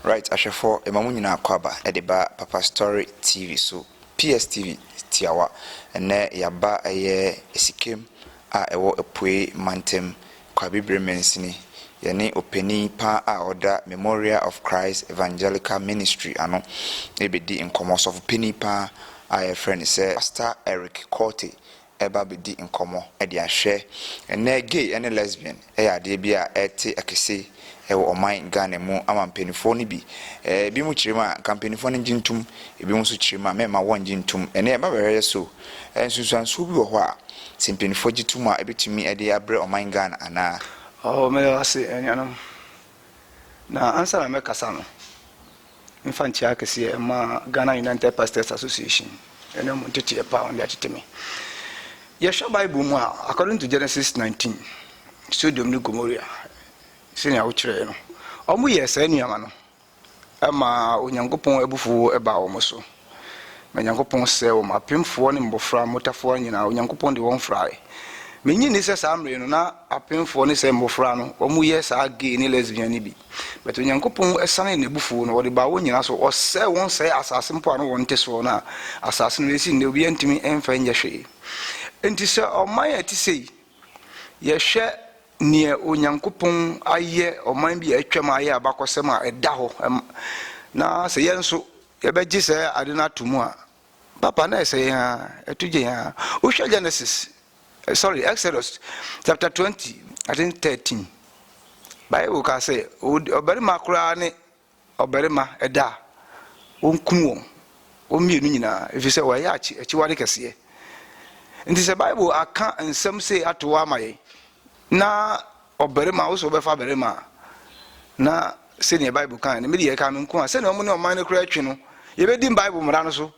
Right ahwɛfoɔ yɛma mo nyinaa akwaaba de ba Papastory TV so PSTV tiawa ɛnnɛ yɛaba ɛyɛ Asikem a ɛwɔ Apuei mantam Kwabibire mansini yɛne opanin pa a ɔda Memorial of Christ Evangelical Ministry ano rebɛdi nkɔmmɔ ɔsɔfopanin pa a yɛfrɛ no sɛ Pastor Eric Quartey ɛreba abɛdi nkɔmmɔ de ahwɛ. Ɛnnɛ gay ne lesbian yɛ adeɛ bi a ɛrete akɛse wɔ ɔman Ghana mu ama mpaninfoɔ no bi. Binom kyerɛ mu a, nka mpaninfoɔ no ngye ntom, binom nso kyerɛ mu a, mɛmma wɔngye ntom. Ɛnnɛ mmabaawareɛ so, nsunsuansoɔ bi wɔ hɔ a, sɛ mpaninfoɔ gye tom a, ɛbɛtumi de abrɛ ɔman Ghana anaa? Oh, meda mo ase anuanom. Na ansa na mɛkasa no, mfa nkyia kɛseɛ mma Ghana United Pastors Association ɛne wɔn nteteɛ pa a wɔde atete me. Yɛhwɛ Bible mu a, according to Genesis 19, Sodom ne Gomorrah sɛnea wokyerɛɛ no, wɔyɛɛ saa nneɛma no ɛma Onyankopɔn abufuo baa wɔn so. Ma Nyankopɔn sɛɛ wɔn, apemfoɔ ne mmɔfra, mmotafowa nyinaa, Onyankopɔn de wɔn frae. Mennye nni sɛ saa mmere no, na apemfoɔ ne sɛ mmɔfra no, wɔyɛ saa gay ne lesbian no bi. But Onyankopɔn sanee N'abufuo no, Ɔde baa wɔn nyinaa so, Ɔsɛe wɔn sɛe asase mpo a na wɔn nte soɔ no a, asase no ɛsi nnɛ obiara ntumi mfa nyɛ hwee. Enti sɛ ɔman a ɛte sei, yɛhwɛ neɛ Onyankopɔn ayɛ ɔman bi a atwam ayɛ abakɔsɛm a ɛda hɔ, na sɛ yɛn nso yɛbɛgye saa ade no ato mu a, papa na ɛsɛ yɛn ara, ɛto gye yɛn ara. Wohwɛ Genesis, eh, sorry, Exodus chapter 20, I think 13. Bible ka sɛ ɔbarima koraa ne ɔbarima ɛda a wɔnkum wɔn wɔn mmienu nyinaa ɛfiri sɛ wɔyɛ akyiwade kɛseɛ nti sɛ bible aka nsɛm sei ato hɔ ama yɛn na Ɔbarima a, wo sɛ wobɛfa barima a? Na sɛdeɛ Bible kae no, me deɛ ɛkaa me nko a, sɛdeɛ wɔn ne ɔman no koraa atwi no, yɛbɛdi Bible mmara no so.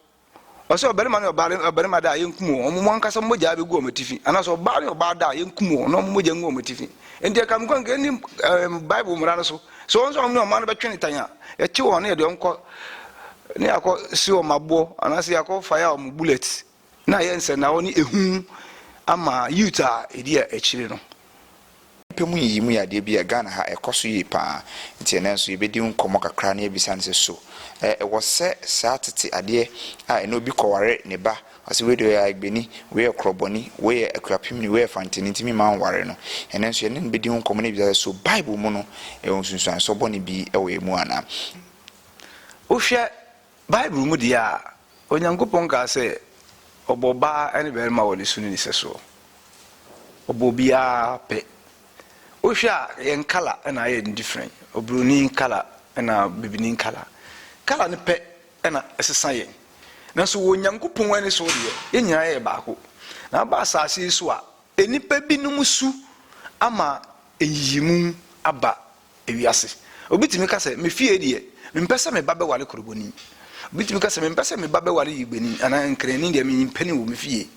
Ɔsɛ ɔbarima ne ɔbaa ne ɔbarima da a, yɛnkum wɔn, wɔn ankasa mogya bɛgu wɔn atifi, anaasɛ ɔbaa ne ɔbaa da a, yɛnkum wɔn, na wɔn mogya ngu wɔn atifi. Enti ɛkaa me nko a, nka yɛnni ɛɛm Bible mmara no so. Sɛ wɔn nso a wɔn ne ɔman no bɛtwe no tan a, yɛkye wɔn na yɛde wɔn kɔ, na yɛakɔ si wɔn aboɔ, anaasɛ yɛakɔ fire wɔn bullets. Na ayɛ nsɛnao ne ehu ama youth a edi akyire no. Pɛ mu nyiyimu yɛ adeɛ bi a Ghana ha ɛkɔ so yie pa ara, nti ɛnnɛ nso yɛbɛdi ho nkɔmmɔ kakra na yɛabisa no sɛ so ɛwɔ sɛ saa tete adeɛ a ɛnnɛ obi kɔware ne ba, ɔse wei deɛ ɔyɛ Aegbeni, wei yɛ Krɔbɔni, wei yɛ Akuapemni, wei yɛ Fanteni nti memma nware no. Ɛnnɛ nso yɛne no bɛdi ho nkɔmmɔ na yɛabisa sɛ so Bible mu no ɛwɔ nsunsuansoɔ bɔne bi wɔ ɛmu anaa. Wohwɛ Bible mu deɛ a, Onyankopɔn kaa sɛ ɔbɔɔ baa ne barima wɔ ne su ne ne sɛsoɔ. Ɔbɔɔ obiara pɛ. Wohwɛ a, yɛn kala na ayɛ no difrɛn. Oburoni kala na bibini kala. Kala no pɛ na ɛsesa yɛn. Nanso wɔ Onyankopɔn ani so deɛ, yɛn nyinaa yɛ baako. Na aba asase yi so a, nnipa binom su ama nyiyimu aba Ewiase. Obi tumi ka sɛ, Me fie deɛ, mempɛ sɛ me ba bɛware koroboni. Obi tumi ka sɛ, Mempɛ sɛ me ba bɛware yigbeni anaa nkranni deɛ, mempɛ no wɔ me fie.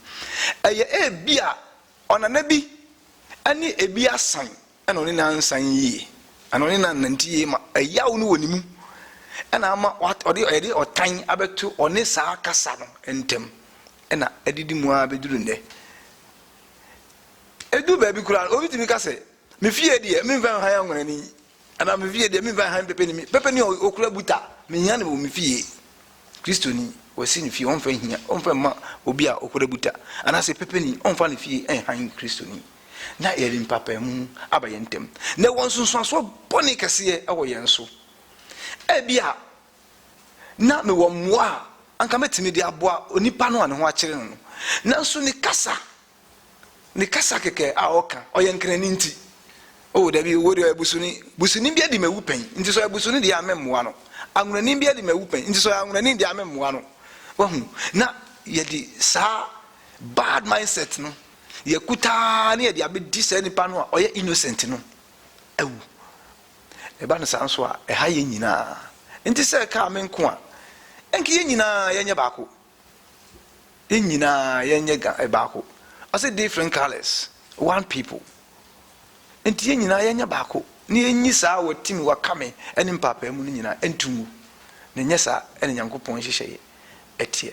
Ɛyɛ ebia ɔnana bi ne ebi asan na ɔne no ansan yie, anaa ɔne no annante yie ma ɛyaw no wɔ ne mu na ama ɔde ɔde ɔtan abɛto ɔne saa kasa no ntam na adidi mu ara bɛduru nnɛ. Ɛduru baabi koraa no, obi tumi ka sɛ, Me fie deɛ, memfa nhan anwonani, anaa me fie deɛ, memfa nhan pɛpɛnimi. Pɛpɛni a ɔkura buta, mehia no wɔ me fie. Kristoni, wasi ne fie, ɔmfa nhia, ɔmfa mma obi a ɔkura buta, anaasɛ pɛpɛni, ɔmfa ne fie nhan Kristoni. Na yɛde mpaapaemu aba yɛn ntam, na ɛwɔ nsunsuansoɔ bɔne kɛseɛ wɔ yɛn so. Ebia na mewɔ mmoa a anka mɛtumi de aboa onipa no a ne ho akyere no no, nanso ne kasa ne kasa kɛkɛ a ɔka, ɔyɛ nkrani nti, oh dabi, owuo deɛ ɔyɛ busuni, busuni bi adi m'awu pɛn, nti sɛ ɔyɛ busuni deɛ a meremmoa no, anwonani bi adi m'awu pɛn, nti sɛ ɔyɛ anwonani deɛ a meremmoa no. Wahu? Na yɛde saa bad mindset no, yɛakuta ara na yɛde abɛdi saa nipa no a ɔyɛ innocent no awu. Ɛba no saa nso a, ɛha yɛn nyinaa. Nti sɛ ɛkaa me nko a, ɛnke yɛn nyinaa yɛnyɛ baako. Yɛn nyinaa yɛnyɛ ga eh, baako. Ɔse different colours, one people. Nti yɛn nyinaa yɛnyɛ baako na yɛnyi saa watimi wakame ne mpaapaa mu no nyinaa nto ngu. Na ɛnyɛ saa ɛna Nyankopɔn nhyehyɛeɛ ɛteɛ.